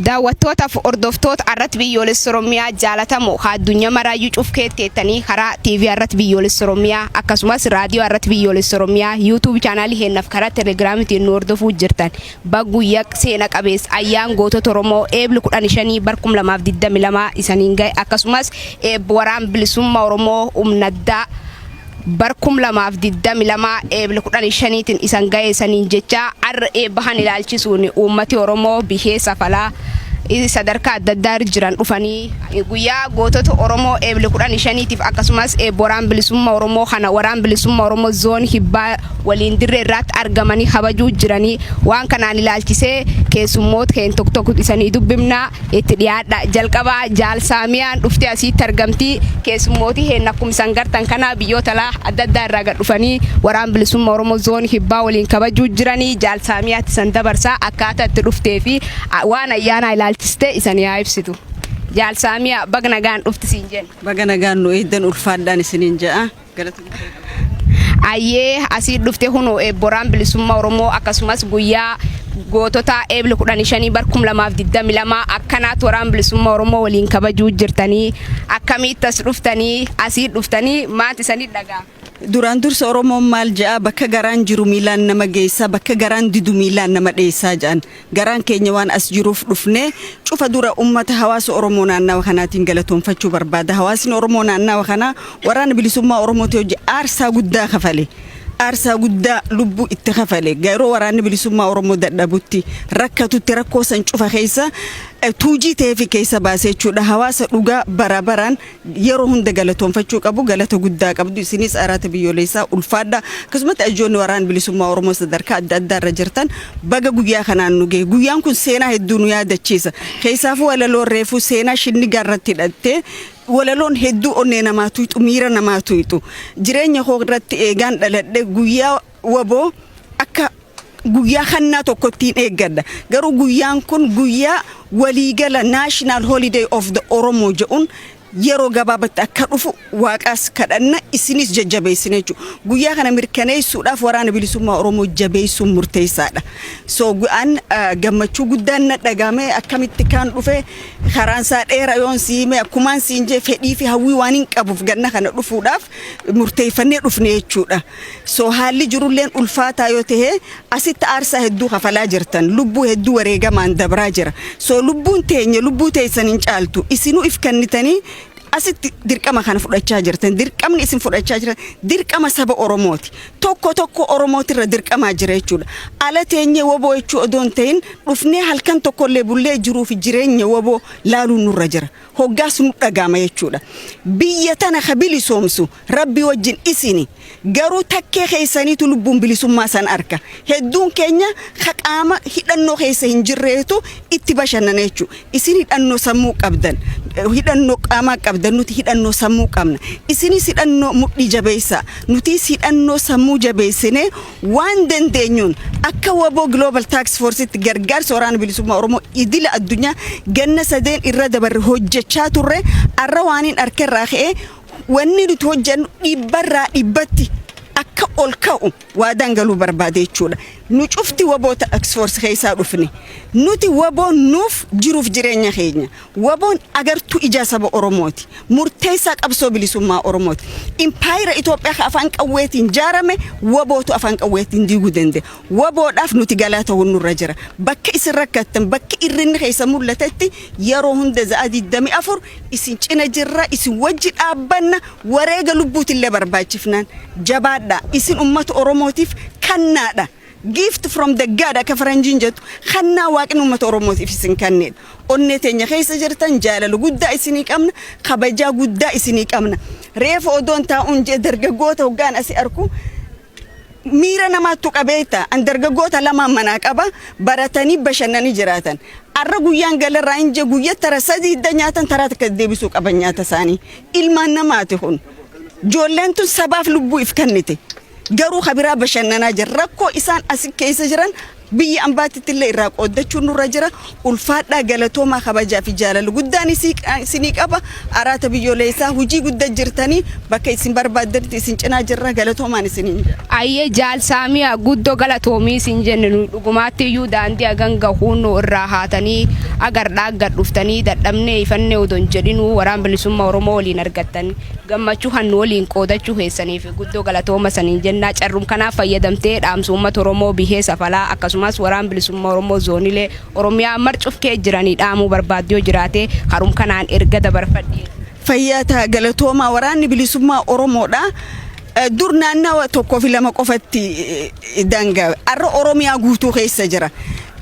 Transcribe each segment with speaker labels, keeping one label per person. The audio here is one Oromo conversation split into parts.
Speaker 1: daawwattootaaf hordoftoota irratti biyyoolessa Oromiyaa jaalatamoo haa addunyaa maraayyuu cufkeetti jettanii karaa TV irratti biyyoolessa Oromiyaa akkasumas raadiyoo irratti biyyoolessa Oromiyaa YouTube chaanaalii keenyaaf karaa Telegraamitiin nu hordofuu jirtan bagguyyaa seena qabeessa ayyaan gootota Oromoo eebli 15 bar 2022 isaniin gahe akkasumas eebbi waraan bilisummaa Oromoo humna addaa bar 2022 Eebla 15 tin isan gaye saniin jechaa arra eebba kan ilaalchisuun uummati Oromoo bihee safalaa sadarkaa adda addaa irra jiran dhufanii guyyaa gootota Oromoo Eebla 15 tiif akkasumas eebba waraan bilisumma Oromoo kana waraan bilisumma Oromoo zoon hibbaa waliin dirree irraatti argamanii kabajuu jiranii waan kanaan ilaalchisee keessummoota keen tokko tokko isanii dubbifnaa Itti dhiyaadha jalqaba jaal saamiyaan dhuftee asiitti argamti keessummooti heen akkuma isan gartan kana biyyoota laa adda addaa irraa gad dhufanii waraan bilisumma oromoo zoon kibbaa waliin kabajuu jiranii jaal saamiyaatti isan dabarsa akkaataa itti dhuftee fi waan ayyaanaa ilaalchiste isan yaa ibsitu jaal saamiyaa bag nagaan dhufti siin jenna. Baga nagaan nu eegdan
Speaker 2: ulfaadhaan isiniin ja'a. Ayyee
Speaker 1: asii dhufte kunoo eebboraan bilisummaa Oromoo akkasumas guyyaa gootota eebli 15 bar 2022 akkanaatti waraan bilisummaa Oromoo waliin kabajuu jirtanii akkamiitti as dhuftanii asii dhuftanii maati sanii dhagaa. Duraan dursa
Speaker 2: Oromoon maal ja'a bakka garaan jiru miilaan nama geessaa bakka garaan didu miilaan nama dheessaa ja'an. Garaan keenya waan as jiruuf dhufne cufa dura ummata hawaasa Oromoo naannawa kanaatiin galatoomfachuu barbaada. Hawaasni Oromoo naannawa kanaa Waraana Bilisummaa Oromootii hojje aarsaa guddaa kafale. Aarsaa guddaa lubbuu itti kafale. Yeroo Waraanni Bilisummaa Oromoo dadhabutti, rakkatutti, rakkoo san cufa keessa tuujii ta'eefi keessa baasee jechuudha. Hawaasa dhugaa bara baraan yeroo hunda galatoonfachuu qabu galata guddaa qabdu isinis araata biyyoleessaa ulfaadha akkasumatti ajoonni waraan bilisummaa oromoo sadarkaa adda addaa irra jirtan baga guyyaa kanaan nu gahe guyyaan kun seenaa hedduu nu yaadachiisa keessaafuu walaloon reefuu seenaa shinnigaa irratti hidhattee walaloon hedduu onnee namaa tuyxu miira namaa tuyxu jireenya koo irratti eegaan dhaladhe guyyaa Wbo akka guyyaa hannaa tokkottiin eeggadha. Garuu guyyaan kun guyyaa waliigala National Holiday of the Oromo jedhuun yeroo gabaabatti akka dhufu waaqaas kadhanna isinis jajjabeessina jechuudha. Guyyaa kana mirkaneessuudhaaf waraana bilisummaa Oromoo jabeessuun murteessaadha. So an gammachuu guddaan na dhagahame akkamitti kaan dhufe karaan isaa dheera yoon si hime akkumaan siin jee fedhii fi hawwii waan hin qabuuf ganna kana dhufuudhaaf murteeffannee dhufne jechuudha. So haalli jirulleen ulfaataa yoo tahe asitti aarsaa hedduu kafalaa jirtan lubbuu hedduu wareegamaan dabraa jira so lubbuun teenya lubbuu teessan hin caaltu isinuu if kennitanii asitti dirqama kana fudhachaa jirtan dirqamni isin fudhachaa jirtan dirqama saba oromooti tokko tokko oromootirra dirqamaa jira jechuudha ala teenyee woboo jechuu odoo hin tahin dhufnee halkan tokkollee bullee jiruu fi jireenya woboo laaluun nurra jira hoggaas nu dhagaama jechuudha biyya tana ka bilisoomsu Rabbii wajjin isini garuu takkee keessaniitu lubbuun bilisummaa san arka hedduun keenya ka qaama hidhannoo keessa hin jirreetu itti bashannana jechuu isin hidhannoo sammuu qabdan hidhannoo qaamaa qabdan nuti hidhannoo sammuu qabna isinis hidhannoo mudhii jabeessaa nutiis hidhannoo sammuu jabeessinee waan dandeenyuun akka waboo global tax forcetti gargaarsa waraana bilisummaa oromoo idila addunyaa ganna sadeen irra dabarre hojjechaa turre arra waaniin arkerraa ka'ee Wanni nuti hojjennu dhibbarraa dhibbatti akka ol ka'u waadaan galuu barbaade jechuudha. Nu cufti waboo tax force keessaa dhufne. Nuti waboon nuuf jiruuf jireenya keenya. Waboon agartuu ijaa saba Oromooti. Murteessaa qabsoo bilisummaa Oromooti. Impaayira Itoophiyaa ka afaan qawweetiin jaarame wabootu afaan qawweetiin diiguu danda'e. Waboodhaaf nuti galaa ta'uun nurra jira. Bakka isin rakkattan, bakki irrinni keessa mul'atetti Yeroo hunda za'a 24 isin cina jirra, isin wajji dhaabbanna, wareega lubbuutillee barbaachifnaan. Jabaadhaa! Isin ummata Oromootiif kannaadha. Gift from the God akka faranjiin jettu, kannaa Waaqni ummata Oromootiif isin kanneedha. Onnee teenya keessa jirtan, jaalala guddaa isinii qabna, kabajaa guddaa isinii qabna. Reefu odoon taa'uun jee dargaggoota hoggaan asi arku, Miira namaa tuqa beekta. An dargaggoota lamaan manaa qaba. Baratanii bashannanii jiraatan. Arra guyyaan galarraa hin je guyya tara sadii hidda nyaatan taraa takka deebisuu qaban nyaata isaanii. Ilmaan namaati kun. Joolleen tun sabaaf lubbuu if kennite. Garuu kabiraa bashannanaa jira. Rakkoo isaan asi keessa jiran Biyya ambaatittillee irraa qooddachuun nurra jira. Ulfaadhaa galatoomaa kabajaa fi jaalala guddaan isinii qaba. Araata biyyoleessaa hujii gudda jirtanii bakka isin barbaaddanitti isin cinaa jirra galatoomaan isiniin jedha. Ayyee jaal
Speaker 1: saamiya guddo galatoomii sin jenne nuyi dhugumaatti iyyuu daandii hagan gahuun nu irraa haatanii agardhaa gad dhuftanii dadhabnee ifannee odon jedhinuu waraan bilisumma oromoo waliin argattan gammachuu kan nu waliin qoodachuu keessaniif Guddoo galatooma saniin jennaa carrum kanaa fayyadamtee dhaamsu ummata Oromoo bihee safalaa akkasumaas waraan bilisumma Oromoo zoonilee Oromiyaa mar cuf kee jiranii dhaamuu barbaaddu yoo jiraatee karum kanaan erga dabarfadhii. Fayyaa ta'a
Speaker 2: galatoomaa waraanni bilisummaa Oromoodha. Dur naannawa tokkoo fi lama qofatti daangaawe. Har'a Oromiyaa guutuu keessa jira.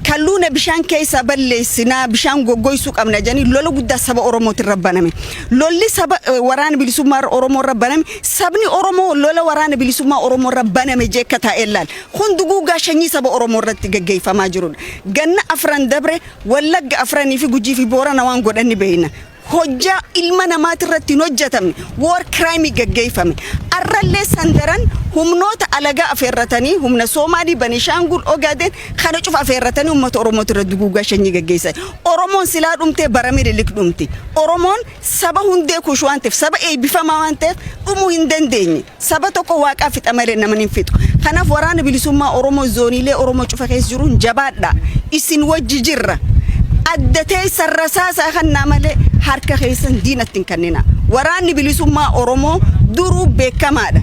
Speaker 2: Kalluuna bishaan keessaa balleessina, bishaan goggoysuu qabna jedhanii lola guddaa saba Oromootiin irra baname. Lolli saba waraana bilisummaa Oromoo irra baname, sabni Oromoo lola waraana bilisummaa Oromoo irra baname jee akka taa'ee laal. Kun duguuggaa shanyii saba Oromoo irratti gaggeeyfamaa jiruudha. Ganna afran dabre Wallagga afranii fi Gujii fi Boorana waan godhan ni beeyna. hojjaa ilma namaati irratti hin hojjatamne war crime gaggeeffame arrallee sandaran humnoota alagaa afeerratanii humna soomaalii banishaangul ogaden kana cufa afeerratanii ummata oromooti irra duguugaa shanyii gaggeessan oromoon silaa dhumtee bara mililik dhumti oromoon saba hundee kuush waan ta'eef saba eebbifamaa waan ta'eef dhumuu hin dandeenye Saba tokko waaqaa fixa malee naman hin fixu. Kanaaf waraana bilisummaa Oromoo zooniilee Oromoo cufa keessa jiruun jabaadhaa isin wajji jirra. Adda teessan rasaasaa kannaa malee harka keessan diinatti hin kanninaa. Waraanni bilisummaa Oromoo duruu beekamaadha.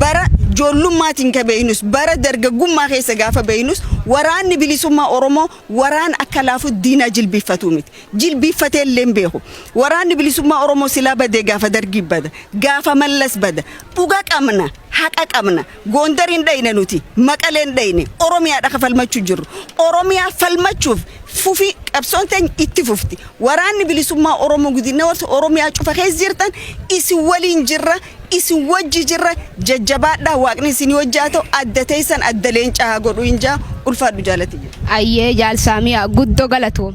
Speaker 2: Bara joollummaatiin ka beeknus bara dargaggummaa keessa gaafa beeknus waraanni bilisummaa Oromoo waraana akka laafutti diinaa jilbiiffatuu miti. jilbiiffatee illee hin beeku. Waraanni bilisummaa Oromoo silaa badee gaafa Dargii bada, gaafa Mallas bada. Dhuga qabna, haqa qabna. Goondar hin dhayne nuti, Maqalee hin dhayne. Oromiyaadha ka falmachuu jirru. Oromiyaa falmachuuf fufi qabsoon teenya itti fufti. Waraanni bilisummaa Oromoo gudinna warsa Oromiyaa cufa keessa jirtan isin waliin jirra. isin wajji jirra jajjabaadhaa waaqni isinii wajji haa ta'u adda teessan adda leencaa haa godhu hin
Speaker 1: jaa
Speaker 2: ulfaadhu
Speaker 1: jaalatiyya.
Speaker 2: Ayyee
Speaker 1: jaal
Speaker 2: saamiyaa guddo galatoom.